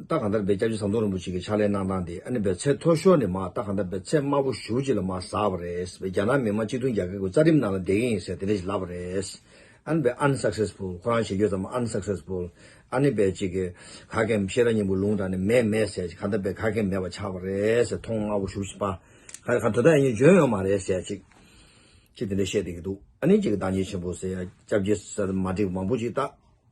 རྟགས་གང་དར་སྦས་སྐྱབས་རྗེ་ཟམ་གདོང་རིན་པོ་ཆེ་གི་ཕྱག་ལེན་གནང་སྟངས་དེ་ཨ་ནི་བའི་ཚེ་མཐོ་ཤོར་ནས་མ་རྟགས་གང་དར་སྦས་ཚད་དམའ་པོ་ཞུགས་ཅིག་ལ་མ་ཟགས་པ་རེད་བས་རྒྱ་ནག་མི་དམངས་སྤྱི་མཐུན་རྒྱ་གར་གི་རྩ་ཁྲིམས་ནང་ལ་འདེད་གིན་ཡིན་ཟེར་དེ་འདྲ་ཞིག་ལབ་པ་རེད་ཨ་ནི་བའི Unsuccessful ཁོ་རང་བྱེད་རྒྱུ་ཙམ Unsuccessful ཨ་ནི་བའི་ཅིག་ག་གེ་མི་ཤེས་རང་ཉིན་པོ་ལུང་དྲངས་ནས་མེད་མེད་ཟེར་ཅིག་གང་དར་སྦས་ག་གེ་མེད་པ་ཆགས་པ་རེད་མཐོང་དམའ་པོ་ཞུགས་ཅིག་པ་ག་གེ་དོན་དག་ཡིན་རྒྱུ་འཇོན་ཡོད་མ་རེད་ཟེར་ཅིག་ཅིག་དེ་འདྲ་བཤད་བསྡད་ཀྱི་འདུག་ཨ་ནི་ཅིག་གི་བདག་ཉིད་ཆེན་པོ་ཟེར་ཡ་སྐྱབས་རྗེ་ཟེར་མ་འགྲིག་མང་པོ་ཅིག་བཏགས།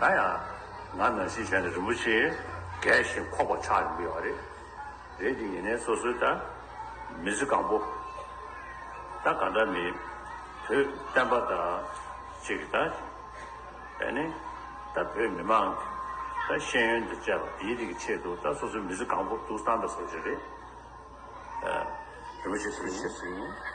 ད་ཡང་ང་ནང་བཞིན་བྱས་ནས་རིན་པོ་ཆེ་རྒས་ཤིང་འཁོགས་པ་ཆགས་ཡོང་གི་ཡོད་རེད། རེད་དེ་ཡིན་ནའི་སོ་སོའི་ལྟ། མི་ཚེ་གང་པོ། ད་གང་འདྲ་མི། བུ། བསྟན་པ་དང། གཅིག་གི་ད། བས་ནི། ད་བོད་མི་མང། ད་ཤེས་ཡོན་དང་བཅས་པ་དེའི་རིགས་ཀྱི་ཆེད་དུ་ད་སོ་སོའི་མི་ཚེ་གང་པོ་དུག་སང་དང་ཟོ་བྱེད་རེད། རིན་པོ་ཆེ་སེང།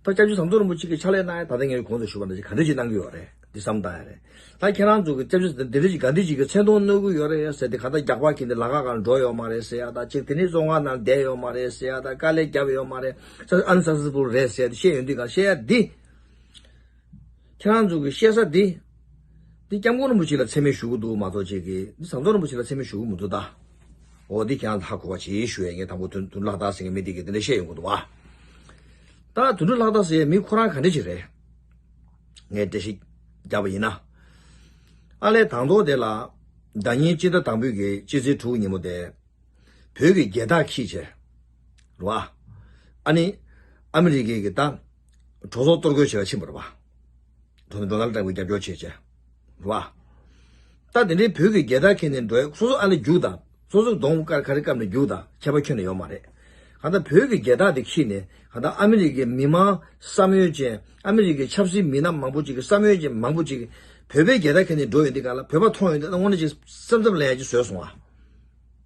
ད་སྐྱབས་རྗེ་ཟམ་གདོང་རིན་པོ་ཆེ་གི་ཕྱག་ལས་གནང་ཡ་ད་ལྟ་ངའི་གོང་དུ་ཞུ་བ་འདི་ག་འདྲི་ཞིག་གནང་གི་ཡོད་རེད་འདི་བསམ་གཏང་ཡ་རེད་ད་ཁྱེད་རང་ཚོ་གི་སྐྱབས་རྗེ་འདི་འདྲི་ཞིག་ག་འདྲི་ཞིག་གི་མཚན་མཐོང་གནོད་གི་ཡོད་རེད་ཟེར་ཏེ་ག་ད་རྒྱག་པ་གིས་འདི་ལ་ག་ག་ལ་འགྲོ་ཡོད་མ་རེད་ཟེར་ཡ་ད་ཅིག་དེ་ནས་བཙོན་ཁང་ནང་བསྡད་ཡོད་མ་རེད་ཟེར་ཡ་ད་དཀའ་ལས་བརྒྱབ་ཡོད་མ་རེད་ས་ཨན་ས་སི་པུར་རེད་ཟེར་ཏེ་བཤད་ཡོད་འདི་ག་བཤད་ཡ་འདི། ཁྱེད་རང་ཚོ་གི་བཤད་ས་འདི། འདི་སྐྱབས་མགོན་རིན་པོ་ཆེ་ལ་མཚན་མེད་ཞུ་གི་འདུག་མ་གཏོགས་ཁྱེད་ཀྱིས་འདི་ཟམ་གདོང་རིན་པོ་ཆེ་ལ་མཚན་མེད་ཞུ་གི་མི་འདུག་ད། འོ་འདི་ཁྱེད་རང་ལ་ཧ་གོ་བ་བྱེད་ཞུ་ཡས་ངས་དང་པོ་དོན་དུ་ལྷག་རྟགས་ཟེར་མཁན་མི་དེ་གིས་འདི་འདྲ་བཤད་ཡོང་གི་འདུག་བ། ད་དོན་དུ་ལྷག་རྟགས་ཟེར་ཡས་མི་ཁོ་རང་ག་འདྲ་ཞིག་རེད། ངས་བཀྲ་ཤིས་རྒྱབ་པ་ཡིན་ན། ཨ་ལས་དང་ཐོག་དེ་ལ། སྒྲ་སྙན་སྤྱི་ཟླ་དང་པོའི་གི་སྤྱི་ཚེས་དྲུག་ཉིན་མོ་དེ། བོད་ཀྱི་རྒྱལ་རྟགས་ཁྱི་བྱས། རེད་བ། ཨ་ནི། ཨ་མི་རི་ཀའི་གི་རྟགས། གྲོགས་ཚོགས་གཏོར་རྒོལ་བྱེད་ལ་ཕྱིན་པར་བ། གྲོགས་ནི་འགྲོ་ལམ་དྲག་པོའི་རྒྱབ་སྐྱོར་བྱེད། བྱེད་བ། ལྟ། དེ་འདྲའི་བོད་ཀྱི་རྒྱལ་དར་ཁེངས་ནས་འགྲོ་ཡས་སོ་སོ་ཨ་ལས་རྒྱུགས་དང། སོ་སོ་གདོང་དཀར་ཁ་རི་བཀབ་ནས་རྒྱུགས་དང་ཁྱད་པར་ཁྱོན་ནས་ཡོང་མ་རེད། གང་ལྟར་བོད་ཀྱི་རྒྱལ་དར་དེ་ཁྱིས་ནས་གང་ལྟར་ཨ་མི་རི་ཀའི་མི་མང་བསམ་ཡོད་ཅན་ཨ་མི་རི་ཀའི་ཆབ་སྲིད་མི་སྣ་མང་པོ་ཅིག་གི་བསམ་ཡོད་ཅན་མང་པོ་ཅིག་བོད་པའི་རྒྱལ་དར་ཁེངས་ནས་འགྲོ་ཡོད་འདི་ག་ལ་བོད་པ་མཐོང་ཡོད་འདི་ལ་སྔོན་ནས་ཅིག་བསམ་བསམ་ལ་ཡ་ཅིག་བཟོས་སོང་བ།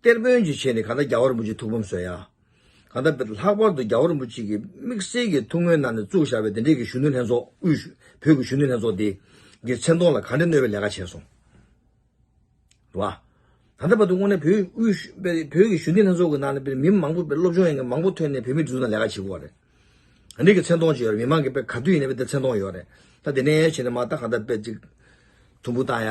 གཏེར་དཔོན་གྱི་ཆེད་ནས་གང་ལྟར་རྒྱ་བ་རིན་པོ་ཆེའི་ཐུགས་ཕམ་བཟོས་ཡ། གང་ལྟར་ལྷག་པར་དུ་རྒྱ་བ་རིན་པོ་ཆེ་གི་དམིགས་བསལ་གྱི་ཐུགས་སྨོན་གནང་ནས་བཙུགས་བཞག་པའི་དེ་འབྲེལ་གྱི་གཞོན་ནུ་ལྷན་ཚོགས་དབུས། བོད་ཀྱི་གཞོན་ནུ་ལྷན་ཚོགས་དེ། གི་མཚན་མཐོང་ལ་ག་འདྲའི་གནོད་པའི་ལས་ཀ་བྱས་སོང། བ། ད་ལྟ་བར་དུ་དངོས་གནས་བོད་དབུས། བོད་ཀྱི་གཞོན་ནུ་ལྷན་ཚོགས་ཀྱི་ནང་ནས་མི་མང་པོ་བས་སློབ་སྦྱོང་ཡང་མང་པོ་ཐོན་ནས་བོད་མི་འདི་ཚོ་ནང་ལས་ཀ་བྱེད་དགོས་བ་རེད། ག་འདྲའི་གི་མཚན་མཐོང་བྱས་ཡོད་རེད་མི་མང་གི་བས་ག་དུས་ཡིན་ན་བས་དེ་མཚན་མཐོང་ཡོད་རེད། ད་དེ་ནས་ཡན་ཆད་ནས་མ་ད་གང་ལྟར་བས་ཅིག། དུམ་བུ་བཏང་ཡ།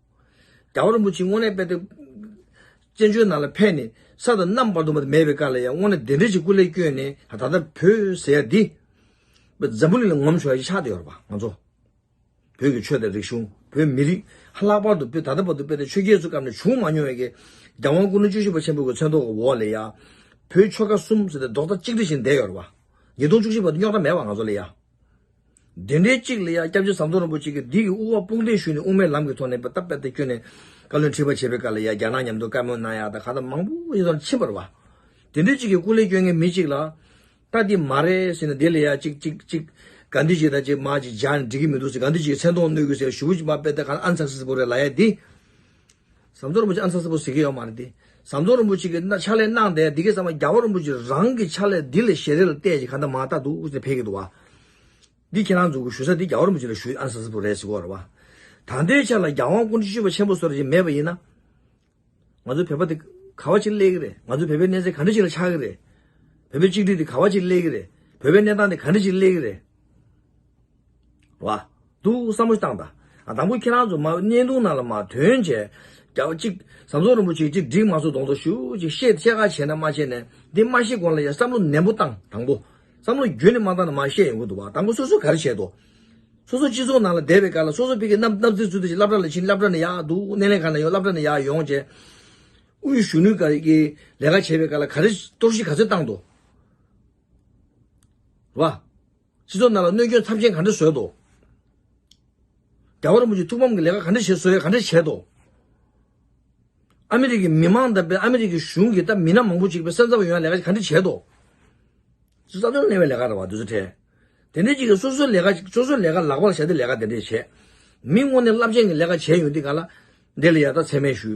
རྒྱ་བ་རིན་པོ་ཆེའི་དངོས་གནས་དཔེ་དེབ། བཙན་བྱོལ་ནང་ལ་ཕེབས་ནས་ས་དང་གནམ་བར་དུ་མེད་པའི་སྐབས་ལ་ཡང་དངོས་གནས་དེ་འདྲའི་ཞིག་སྐུ་ལས་བསྐྱོན་ནས་ད་ལྟ་བོད་ཟེར་ཡ་འདི། འཛམ་བུ་གླིང་ལ་ངོམ་ཆོག་ཡ་ཞིག་ཆགས་བསྡད་ཡོད་རེད་པ་ང་ཚོ། བོད་ཀྱི་ཆོས་དང་རིག་གཞུང་བོད་མི་རིགས་ཧ་ལག་པར་དུ་བོད་ད་ལྟ་བར་དུ་དཔེ་དེབ་ཆོས་རྒྱལ་ཚོའི་སྐབས་ནས་བྱུང་མ་མྱོང་བའི། རྒྱ་དབང་སྐུ་ན་བཅུ་བཞི་པ་ཆེན་པོ་གི་མཚན་ཐོག་གི་འོག་ལ་ཡ། བོད་ཆོལ་ཁ་གསུམ་ཟེར་ཏེ་རྡོག་རྩ་གཅིག་སྒྲིལ་བཞིན་བསྡད་ཡོད་རེད་པ། ཉིས་སྟོང་བཅུ་བཞི་བར་དུ་རྙོག་དྲ་མེད་པ་ང་ཚོ་ལ་ཡ། བདུན་འདྲེ་གཅིག་ལ་ཡང་སྐྱབས་རྗེ་ཟམ་གདོང་རིན་པོ་ཆེ་གིས་སྡིག་གི་དབུ་བ་དཔུང་སྟེང་ཞུས་ནས་དབུ་མའི་ལམ་གྱི་ཐོག་ནས་པདྨ་པད་ཟླར་བསྐྱོད་ནས། བཀའ་བློན་ཁྲི་པ་བྱེད་པའི་སྐབས་ལ་ཡང་རྒྱ་ནག་ཉམས་རྡུང་བཀའ་མོལ་གནང་ཡག་དང་གང་དང་མང་པོ་ཡོད་ཙང་ཕྱིན་པར་བ། དེ་འདྲེ་གཅིག་གིས་སྐུ་ལས་བསྐྱོན་མཁན་མི་གཅིག་ལ། ལྟ་འདི་མ་རེད་ཟེར་ནས་དེ་ལ་ཡང་གཅིག་གཅིག་གཅིག། ག་འདི་གཅིག་དང་གཅིག་མ་གཅིག་སྦྱར་ནས་འགྲིག་གི་མི་འདུག་ཟེར་ག་འདི་གཅིག་གི་མཚན་མཐོང་གནོད་གི་ཟེར་ཞུ་བོ་བྱིས་པ་པད་ཟླ་གང་ཨ་མཚར་སིལ་སིལ་པོ་རེད་ལ་ཡ་འདི། ཟམ་གདོང་རིན་པོ་ཆེ་ཨ་མཚར་ས་པོ་ཟེར་གི་ཡོད་མ་རེད་དེ། ཟམ་གདོང་རིན་པོ་ཆེ་གིས་ཕྱག་ལས་གནང་བསྡད་འདི་གས་ཟེར་མ་རྒྱ་བོད་རིན་པོ་ཆེ་རང་གིས་ཕྱག་ལས་འདི་ལས་ཞེ་རེ་ལ་བལྟས་ཀྱི་ག་འདྲ་མ་བལྟ་འདུག་ཨུ་ཚུགས་འཕེལ་གི་འདུག་བ། འདི་ཁྱེད་རང་འཛུགས་དགོས་ཞུ་ས་འདི་རྒྱ་བོད་རིན་པོ་ཆེ་ལ་ཞུ་ཨ་མཚར་ས་པོ་རེད་ཟེར་གོ་རེད་བ། ད་ལྟའི་ཆ་ལ་རྒྱ་དབང་སྐུ་འཁྲི་ཤུལ་བ་ཆེན་པོ་ཟེར་བ་ཞིག་མེད་པ་ཡིན་ན། ང་ཚོའི་བོད་པ་འདི་ག་བ་ཅིག་སླེ་གི་རེད་ང་ཚོའི་བོད་པའི་གནས་ཚད་ག་འདྲ་ཞིག་ལ་ཆགས་ཀྱི་རེད། བོད་པའི་གཅིག་སྒྲིལ་འདི་ག་བ་ཅིག་སླེ་གི་རེད་བོད་པའི་གནས་སྟངས་འདི་ག་འདྲ་ཞིག་སླེ་གི་རེད། བ། འདུག་བསམ་བློ་བཏང་ད། དང་པོ་ཁྱེད་རང་ཚོ་མ་བསྙེན་ཐུང་ནང་ལ་མ་དོན་བྱས། རྒྱ་བ་གཅིག། ཟམ་གདོང་རིན་པོ་ཆེ་གཅིག་འགྲིག་མ་སོ་གདོང་ཚོ་ཞུ་གཅིག་བཤད་བཤད་ཁ་བྱས་ན་མ་བྱས་ནས་འདི་མ་ཤེས་གོང་ལ་ཡ་བསམ་བློ་ནན་པོ་བཏང་དང་པོ། བསམ་བློ་རྒྱུན་ནས་མ་བཏང་ན་མ་བཤད་ཡོང་གི་འདུག་བ་དང་པོ་སོ་སོ་ག་རེ་བྱས་དོ། སོ་སོ་སྤྱི་ཚོགས་ནང་ལ་བསྡད་པའི་ཁར་ལ་སོ་སོ་ཕི་གི་སྣབས་སྣབས་རྩེ་ཚུལ་དེ་བཞིན་བསླབ་གྲ་ལ་ཕྱིན་བསླབ་གྲ་ནས་ཡག་འདུག་སྣེ་ལེན་གང་ནས་ཡོང་བསླབ་གྲ་ནས་ཡག་ཡོང་བྱས། དབུས་གཞོན་ནུའི་ག་རེ་ཀྱི་ལས་ཀ་བྱས་པའི་ཁར་ལ་ག་རེ་གཏོར་བཤིག་ག་ཚོད་བཏང་དོ། བ། སྤྱི་ཚོགས་ནང་ལ་གནོད་སྐྱོན་ཚབས་ཆེན་ག་འདྲ་བཟོས་ཏོ། རྒྱ་གར་མུ་ཇི་ཐུགས་ཕམ་གྱི་ལས་ཀ་ག་འདྲ་བྱེད་བཟོ་ཡས་ག་འདྲ་བྱས་ཏོ། ཨ་མི་རི་ཀའི་མི་མང་དང་པེ་ཨ་མི་རི་ཀའི་གཞུང་གི་ད་མི་སྣ་མང་པོ་ཅིག་པེ་སེམས་འཚབ་ཡོང་ཡས་ལས་ཀ་ཅིག་ག་འདྲ་བྱས་ཏོ། ཅི་རྩ་དོན་གླེང་བའི་ལས་ཀ་ར་བ་འདི་ཚོ་ཁྲེལ། དེ་འདྲའི་ཅིག་གིས་སོ་སོའི་ལས་ཀ་སོ་སོའི་ལས་ཀ་ལག་པར་བཞག་སྟེ་ལས་ཀ་དེ་འདྲས་བྱས། མི་དངོས་ནས་རླབས་ཆེན་གྱི་ལས་ཀ་བྱས་ཡོང་དུས་ག་ལ། འདི་ལ་ཡར་ལྟ་ཚད་མས་ཞུ།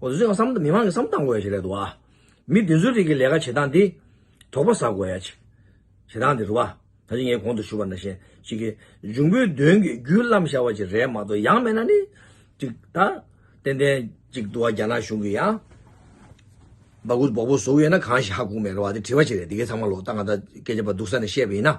འོ་བཟོས་བསམ་མི་མང་གི་བསམ་བཏང་དགོས་ཡ་ཞིག་རེད་འདུག་བ། མི་འདི་ཚོའི་རིགས་ཀྱི་ལས་ཀ་བྱེད་སྟངས་འདི། དོག་པ་ཟ་དགོས་ཡ་ཅིག། བྱེད་སྟངས་འདི་རུ་བ། ད་ཅི་ངས་གོང་དུ་ཞུ་བ་འདྲ་བཞིན་ཞིག་གིས། འབྱུང་པོའི་གདོན་གྱིས་རྒྱུད་བརླམ་བཞག་བ་ཅིག་རེད་མ་གཏོགས་ཡང་མེད་ན་ནི། ཅིག། ད། ཏན་ཏན། ཅིག་འདུག་བ་རྒྱ་ནག་གཞུང་གིས་ཡང། སྦག་སྦུག་སྦོག་སྦོག་བཟོ་གི་ཡོད་ན་གང་ཞིག་ཧ་གོ་མེད་རེད་བ་དེ་དྲི་བ་ཞིག་རེད་འདི་གས་ཚང་མ་ལོག་ལྟ་ང་ད་སྐད་ཆ་པ་སྡུག་ས་ནས་བཤད་པ་ཡིན་ན།